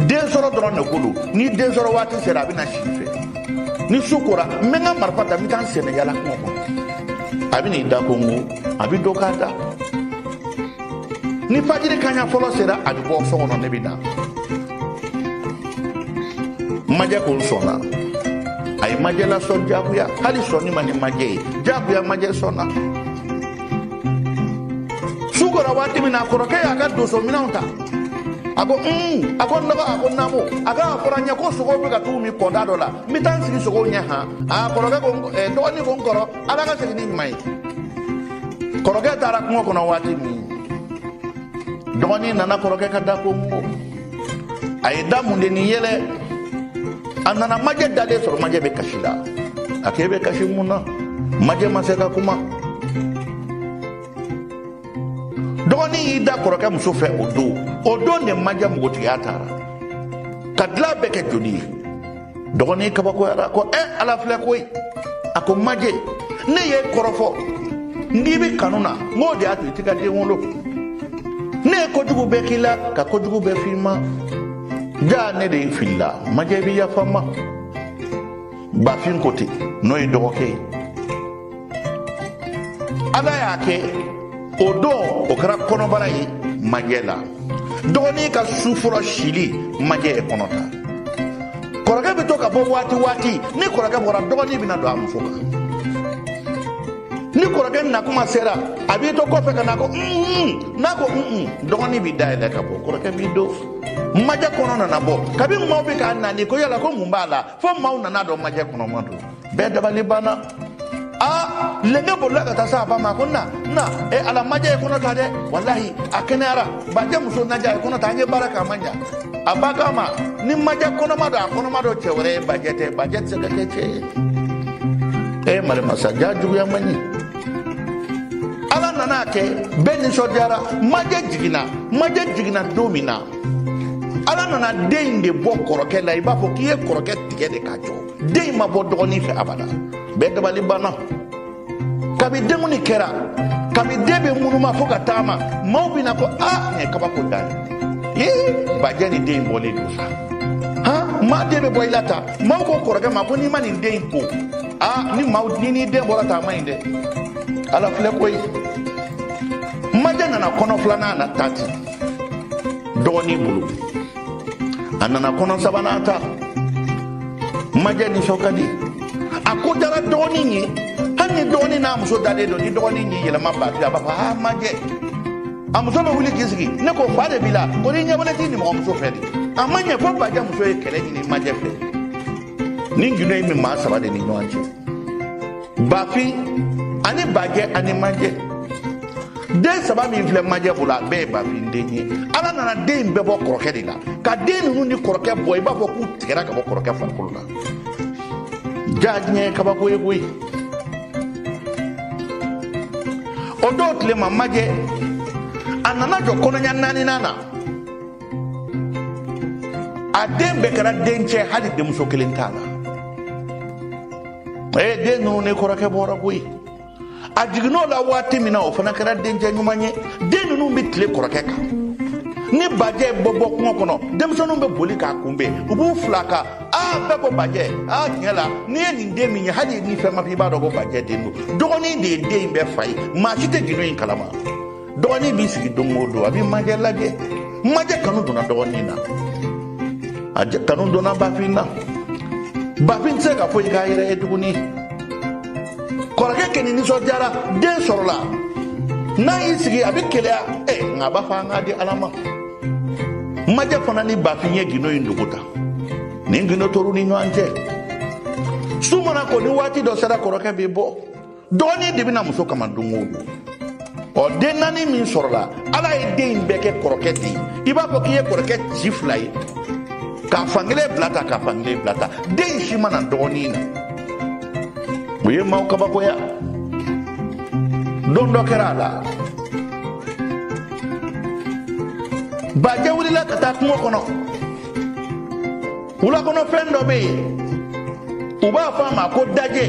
den sɔrɔ dɔrɔn de ko don ni den sɔrɔ waati sera a bɛ na si i fɛ ni su kora n bɛ n ka marifa ta n bɛ taa n sennayaala kungo kɔnɔ a bɛ n'i da kɔnkɔn a bɛ don k'a da ni fajiri kaɲa fɔlɔ sera a bɛ bɔ so kɔnɔ ne bɛ na majɛ ko n sɔnna a ye majɛ lasɔn jagoya hali sɔnni man di majɛ ye jagoya majɛ sɔnna su kora waati min na kɔrɔkɛ y'a ka donso minɛnw ta a ko un a ko n dɔgɔ a ko naamu a ko a fɔra n ye ko sogow bɛ ka t'u min kɔda dɔ la n bɛ taa n sigi sogow ɲɛ han a kɔrɔkɛ ko eh, dɔgɔnin ko n kɔrɔ ala ka segin ni ɲuman ye kɔrɔkɛ taara kungo kɔnɔ waati min dɔgɔnin nana kɔrɔkɛ ka da kɔnkɔn a ye da mun de ni yɛlɛ a nana majɛ dalen sɔrɔ majɛ bɛ kasi la a k'e bɛ kasi mun na majɛ ma se ka kuma dɔgɔnin y'i da kɔrɔkɛ muso fɛ o don o don de majɛ npogotigiya taara ka dilan bɛɛ kɛ joli ye dɔgɔnin kabakoyara ko ɛ eh, ala filɛ koyi a ko majɛ ne ye kɔrɔfɔ n'i bɛ kanu na n k'o de y'a to i tɛ ka den wolo ne ye kojugu bɛɛ k'i la ka kojugu bɛɛ f'i ma ja ne de filila majɛ bɛ yafa n ma bafin ko ten n'o ye dɔgɔkɛ ye ala y'a kɛ o don o kɛra kɔnɔbara ye majɛ la dɔgɔnin ka su fɔlɔ sili majɛ ye kɔnɔ ta kɔrɔkɛ bɛ to ka bɔ waati waati ni kɔrɔkɛ bɔra dɔgɔnin bɛna don a muso kan ni kɔrɔkɛ nakuma sera a b'i to kɔfɛ ka na ko n'a ko dɔgɔnin bɛ da yɛlɛ ka bɔ kɔrɔkɛ b'i don majɛ kɔnɔ nana bɔ kabi maaw bɛ k'a nani ko yala ko mun b'a la fo maaw nana dɔn majɛ kɔnɔma don bɛɛ dabali banna a lenge bolila ka taa se a ba ma ko na na e ala majɛ ye kɔnɔ ta dɛ walahi a kɛnɛyara bajɛ muso majɛ ye kɔnɔ ta an ye baara kɛ a ma ɲa a ba k'a ma ni majɛ kɔnɔma don a kɔnɔma don cɛ wɛrɛ ye bajɛ tɛ bajɛ tɛ se ka kɛ cɛ ye e marimasa ja juguya man ɲi ala nana a kɛ bɛɛ nisɔndiyara majɛ jiginna majɛ jiginna don min na ala nana den in de bɔ kɔrɔkɛ la i b'a fɔ k'i ye kɔrɔkɛ tigɛ de k'a jɔ den in ma bɔ dɔgɔnin fɛ abada bɛɛ dabali banna kabi denkundi kɛra kabi den bɛ munuma fo ka taama maaw bɛ na ko a nin ye kabako dan ye ee bajɛ ni den in bɔlen don sa han maa den bɛ bɔ i la tan maaw ko kɔrɔkɛ ma ko n'i ma nin den in ko a ni maaw ni n'i den bɔra tan a man ɲi dɛ ala filɛ koyi majɛ nana kɔnɔ filanan na ta ten dɔgɔnin bolo a nana kɔnɔ sabanan ta majɛ nisɔn ka di a ko dara dɔgɔnin ye hali ni dɔgɔnin n'a muso dalen don ni dɔgɔnin y'i yɛlɛma bafin a b'a fɔ aa majɛ a muso bɛ wuli k'i sigi ne ko fa de b'i la ko n'i ɲɛbɔlen t'i nimɔgɔmuso fɛ dɛ a ma ɲɛ fo bajɛ muso ye kɛlɛ ɲini majɛ fɛ nin gindo in bɛ maa saba de ni ɲɔgɔn cɛ bafin ani bajɛ ani majɛ den saba min filɛ majɛ bolo a bɛɛ ye bafin den ye ala nana den in bɛɛ bɔ kɔrɔkɛ de la ka den ninnu ni kɔrɔkɛ bɔ i b'a fɔ k'u tigɛra ka bɔ kɔrɔkɛ farikolo la ja diɲɛ ye kabako ye koyi o dɔw tile ma majɛ a nana jɔ kɔnɔɲa naaninan na a den bɛɛ kɛra dencɛ hali denmuso kelen t'a la ee den ninnu ni kɔrɔkɛ bɔra koyi a jiginn'o la waati min na o fana kɛra dencɛ ɲuman ye den ninnu bɛ tile kɔrɔkɛ kan ni bajɛ bɛ bɔ kungo kɔnɔ denmisɛnninw bɛ boli k'a kunbɛn u b'u fili a kan aa bɛɛ ko bajɛ aa tiɲɛ la n'i ye nin den min ye hali ni fɛn ma fɔ i b'a dɔn ko bajɛ den don dɔgɔnin de ye den in bɛɛ fa ye maa si tɛ gindo in kalama dɔgɔnin b'i sigi don o don a bɛ majɛ lajɛ majɛ kanu donna dɔgɔnin na majɛ kanu donna bafin na bafin tɛ se ka foyi k'a yɛrɛ ye tuguni kɔrɔkɛ kɔni nisɔndiyara den sɔrɔla n'a y'i sigi a bɛ keleya ɛ nka a b'a fɔ an k'a di ala ma majɛ fana ni bafin ye gindo in dogo ta nin gindo tora u ni ɲɔgɔn cɛ su mana ko ni waati dɔ sera kɔrɔkɛ bɛ bɔ dɔgɔnin de bɛ na muso kama don o don o den naani min sɔrɔla ala ye den in bɛɛ kɛ kɔrɔkɛ de ye i b'a fɔ k'i ye kɔrɔkɛ ci fila ye k'a fan kelen bila tan k'a fan kelen bila tan den si ma na dɔgɔnin na o ye maaw kabakoya don dɔ kɛra a la bajɛ wulila ka taa kungo kɔnɔ wula kɔnɔ fɛn dɔ bɛ yen u b'a fɔ a ma ko dajɛ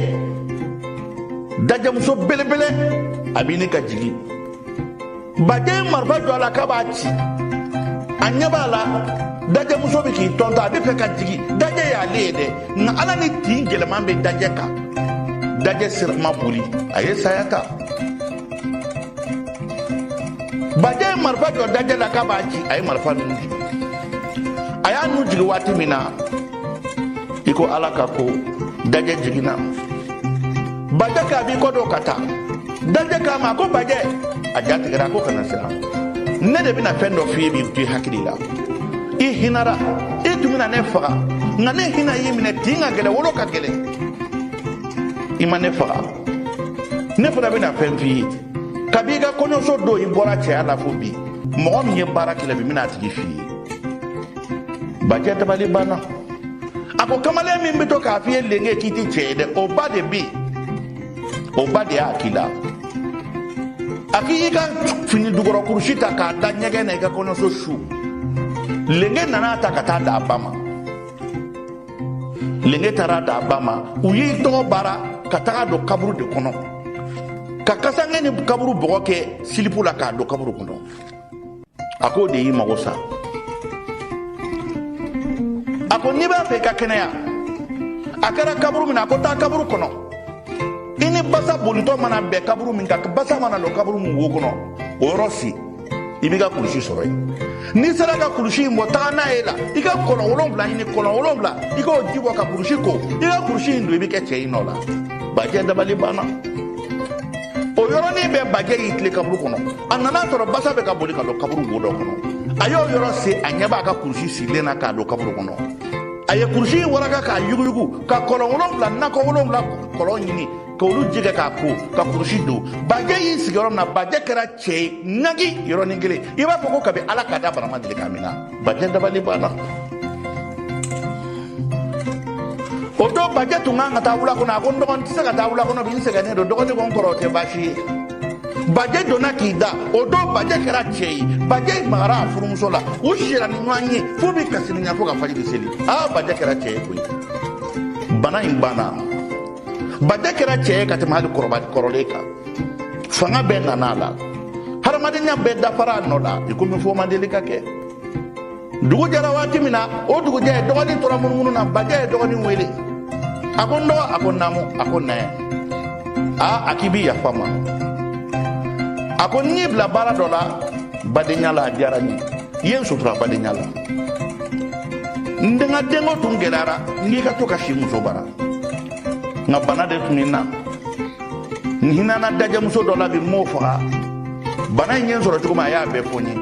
dajɛmuso belebele a b'a ɲini ka jigin bajɛ ye marifa jɔ a la k'a b'a ci a ɲɛ b'a la dajɛmuso bɛ k'i tɔntɔn a bɛ fɛ ka jigin dajɛ y'ale ye dɛ nka ala ni tin gɛlɛman bɛ dajɛ kan dajɛ sira ma boli a ye saya ta bajɛ ye marifa jɔ dajɛ la k'a b'a ci a ye marifa nun jigin a y'a nun jigin waati min na i ko ala ka ko dajɛ jiginna bajɛ k'a b'i kɔ don ka taa dajɛ k'a ma a ko bajɛ a ja tigɛra a ko kana siran ne de bɛna fɛn dɔ f'i ye min t'i hakili la i hinara i tun bɛna ne faga nka ne hinɛ y'i minɛ tin ka gɛlɛn wolo ka gɛlɛn i ma ne faga ne fana bɛna fɛn f'i ye kabi i ka kɔɲɔso don i bɔra cɛya la fo bi mɔgɔ min ye baara k'i la bi n bɛna a tigi f'i ye bajɛ dabali banna a ko kamalen min bɛ to k'a f'i ye lenge k'i tɛ cɛ ye dɛ o ba de bɛ o ba de y'a k'i la a k'i y'i ka fini dugɔrɔ kurusi ta k'a da ɲɛgɛn na i ka kɔɲɔso su lenge nana a ta ka taa d'a ba ma lenge taara d'a ba ma u y'i tɔgɔ baara ka taga a don kaburu de kɔnɔ ka kasange ni kaburu bɔgɔ kɛ silipu la k'a don kaburu kɔnɔ a k'o de y'i mago sa a ko n'i b'a fɛ i ka kɛnɛya a kɛra kaburu min na a ko taa kaburu kɔnɔ i ni basa bolitɔ mana bɛn kaburu min kan basa mana don kaburu min wo kɔnɔ o yɔrɔ sen i b'i ka kulusi sɔrɔ yen n'i sera ka kulusi in bɔ taga n'a ye la i ka kɔlɔn wolonwula ɲini kɔlɔn wolonwula i k'o ji bɔ ka kulusi ko i ka kulusi in don i bɛ kɛ cɛ ye i nɔ la bajɛ dabali banna o yɔrɔnin bɛɛ bajɛ y'i tilen kaburu kɔnɔ a nana a sɔrɔ basa bɛ ka boli ka don kaburu wo dɔ kɔnɔ a y'o yɔrɔ sen a ɲɛ b'a ka kulusi sirilen na k'a don kaburu kɔnɔ a ye kulusi in waraka k'a yuguyugu ka kɔlɔn wolonwula nakɔ wolonwula kɔlɔn ɲini k'olu ji kɛ k'a ko ka kulusi don bajɛ y'i sigi yɔrɔ min na bajɛ kɛra cɛ ye nagi yɔrɔnin kelen i b'a fɔ ko kabi ala k'a da bana ma deli k'a mina bajɛ dabali banna o don bajɛ tun kan ka taa wula kɔnɔ a ko n dɔgɔ n tɛ se ka taa wula kɔnɔ bi n sɛgɛnnen don dɔgɔnin ko n kɔrɔ o tɛ baasi ye bajɛ donna k'i da o don bajɛ kɛra cɛ ye bajɛ magara a furumuso la u sira ni ɲɔgɔn ye fo bɛ kasirinya fo ka fajiri seli aa bajɛ kɛra cɛ ye koyi bana in banna bajɛ kɛra cɛ ye ka tɛmɛ hali kɔrɔba kɔrɔlen kan fanga bɛɛ nana a la hadamadenya bɛɛ dafara a nɔ la i komi foyi ma deli ka kɛ dugu jɛra waati min na o dugujɛ dɔgɔnin tora munumunu na bajɛ ye dɔgɔnin wele a ko n dɔgɔ a ko naamu a ko ne aa a k'i bi yafa n ma a ko n y'i bila baara dɔ la badenya la a diyara n ye i ye n sutura badenya la n de ka denko tun gɛlɛyara n k'i ka to ka si n muso bara nka bana de tun bɛ n na n hinɛna dajɛmuso dɔ la bi n m'o faga bana in ye n sɔrɔ cogo min a y'a bɛɛ fɔ n ye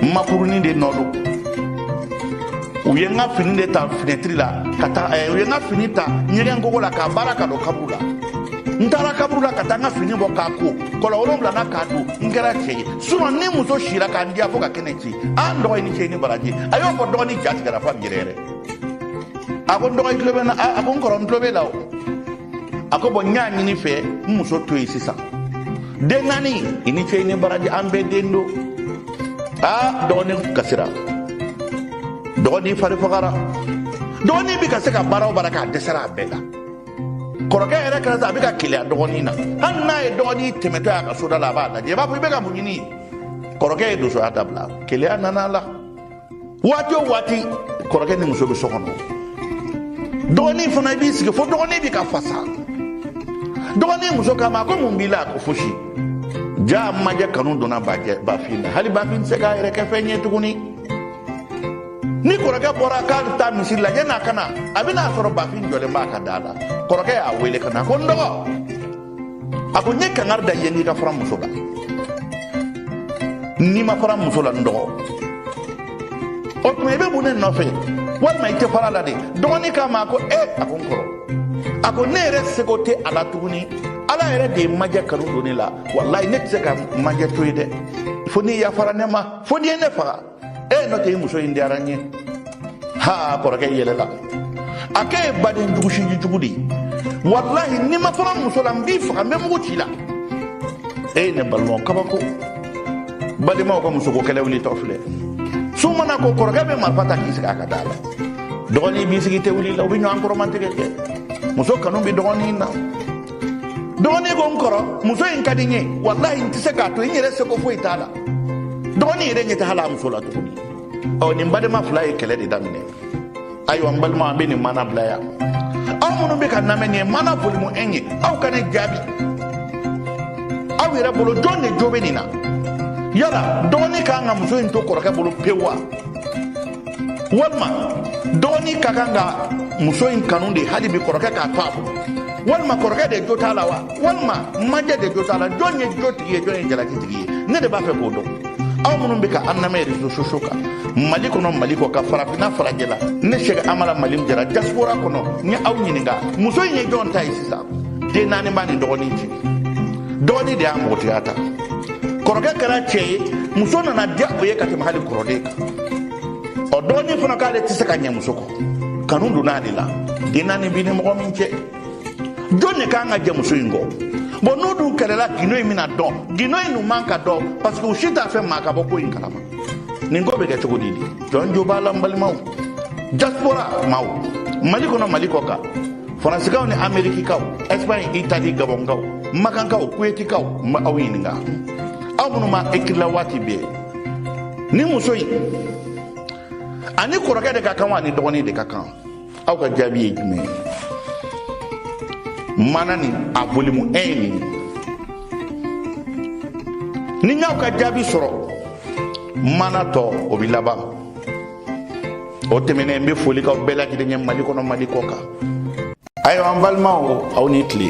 n makurunin de nɔ don u ye n ka fini de ta finɛtiri la ka taa eh, u ye n ka fini ta ɲɛgɛn kogo la k'a baara ka don kaburu la n taara kaburu la ka taa n ka fini bɔ k'a ko kɔlɔn wolonwula na k'a don n kɛra cɛ ye surɔ n ni muso sira ka n diya fo ka kɛnɛ ci a n dɔgɔ i ni cɛ i ni baraji a y'o fɔ dɔgɔnin ja tigɛra f'a bi yɛrɛyɛrɛ a ko n dɔgɔ i tulo bɛ n na a ko n kɔrɔ n tulo b'i la o a ko bɔn n y'a ɲini i fɛ n muso to yen sisan den naani i ni cɛ i ni baraji an bɛɛ den don aa dɔgɔnin kasira dɔgɔnin fari fagara dɔgɔnin bɛ ka se ka baara o baara k'a dɛsɛra a bɛɛ la kɔrɔkɛ yɛrɛ kɛra sa a bɛ ka keleya dɔgɔnin na hali n'a ye dɔgɔnin tɛmɛtɔ y'a ka soda la a b'a lajɛ i b'a fɔ i bɛ ka mun ɲini kɔrɔkɛ ye donsoya dabila keleya nana a la waati o waati kɔrɔkɛ ni muso bɛ so kɔnɔ dɔgɔnin fana i b'i sigi fo dɔgɔnin bɛ ka fasa dɔgɔnin muso k'a ma ko mun b'i la a ko fosi jaa majɛ kanu donna bajɛ bafin na hali bafin tɛ se k'a yɛrɛ kɛ fɛn ye tuguni ni kɔrɔkɛ bɔra k'a bɛ taa misiri la yan'a ka na a bɛna a sɔrɔ bafin jɔlen b'a ka da la kɔrɔkɛ y'a wele ka na ko n dɔgɔ a ko n ye kangari da i ye n k'i ka fara n muso la n'i ma fara n muso la n dɔgɔ o tuma i bɛ mun de nɔfɛ walima i tɛ fara a la de dɔgɔnin k'a ma a ko e eh, a ko n kɔrɔ a ko ne yɛrɛ seko tɛ a la tuguni ala yɛrɛ de ye majɛ kanu don ne la walayi ne tɛ se ka majɛ to yen dɛ fo n'i yafara ne ma fo n'i ye ne faga e n'o tɛ i muso in diyara n ye ha kɔrɔkɛ yɛlɛla a k'e ye baden jugu sinji jugu de ye walahi n'i ma fara n muso la n b'i faga n bɛ mugu ci i la e ne balimaw kabako badenmaw ka musoko kɛlɛ wulitɔ filɛ su mana ko kɔrɔkɛ bɛ marifa ta k'i sigi a ka da la dɔgɔnin b'i sigi tɛ wuli la u bɛ ɲɔgɔn kɔrɔmatigɛ kɛ muso kanu bɛ dɔgɔnin na dɔgɔnin ko n kɔrɔ muso in ka di n ye walahi n tɛ se k'a to n yɛrɛ seko foyi t'a la dɔgɔnin yɛrɛ ɲɛ tɛ hali a muso la tuguni ɔ nin badenma fila ye kɛlɛ de daminɛ ayiwa n balima an bɛ nin mana bila yan aw minnu bɛ k'an lamɛn nin ye mana volume un ye aw ka ne jaabi aw yɛrɛ bolo jɔn de jo bɛ nin na yala dɔgɔnin ka kan ka muso in to kɔrɔkɛ bolo pewu wa walima dɔgɔnin ka kan ka muso in kanu de hali bi kɔrɔkɛ k'a to a bolo walima kɔrɔkɛ de jo t'a la wa walima majɛ de jo t'a la jɔn ye jo tigi ye jɔn ye jalaki tigi ye ne de b'a fɛ k'o dɔn aw minnu bɛ ka an lamɛn réseaux sociaux kan mali kɔnɔ mali kɔ kan farafinna farajɛ la ne sɛki amala mali jara diaspora kɔnɔ n ye aw ɲininka muso in ye jɔn ta ye sisan den naani b'a ni dɔgɔnin cɛ dɔgɔnin de y'a npogotigiya ta kɔrɔkɛ kɛra cɛ ye muso nana diya o ye ka tɛmɛ hali kɔrɔlen kan ɔ dɔgɔnin fana k'ale tɛ se ka ɲɛ muso kɔ kanu donna ale la den naani b'i ni mɔgɔ min cɛ jɔn de kan ka jɛn muso in kɔ bon n'u dun kɛlɛla gindo in bɛna dɔn gindo in dun man ka dɔn parce que u si t'a fɛ maa ka bɔ ko in kalama nin ko bɛ kɛ cogo di di jɔn jo b'a la n balimaw diaspora maaw mali kɔnɔ mali kɔ kan faransikaw ni amerikikaw espagne itali gabɔnkaw makankaw kuwetikaw n bɛ aw ɲininka aw minnu ma ekirila waati bɛɛ ni muso in ani kɔrɔkɛ de ka kan wa ani dɔgɔnin de ka kan aw ka jaabi ye jumɛn ye mana ni a volume un ye nin ni n y'aw ka jaabi sɔrɔ mana tɔ o bɛ laban o tɛmɛnen n bɛ foli k'aw bɛɛ lajɛlen ye mali kɔnɔ mali kɔ kan ayiwa an balimaw aw ni tile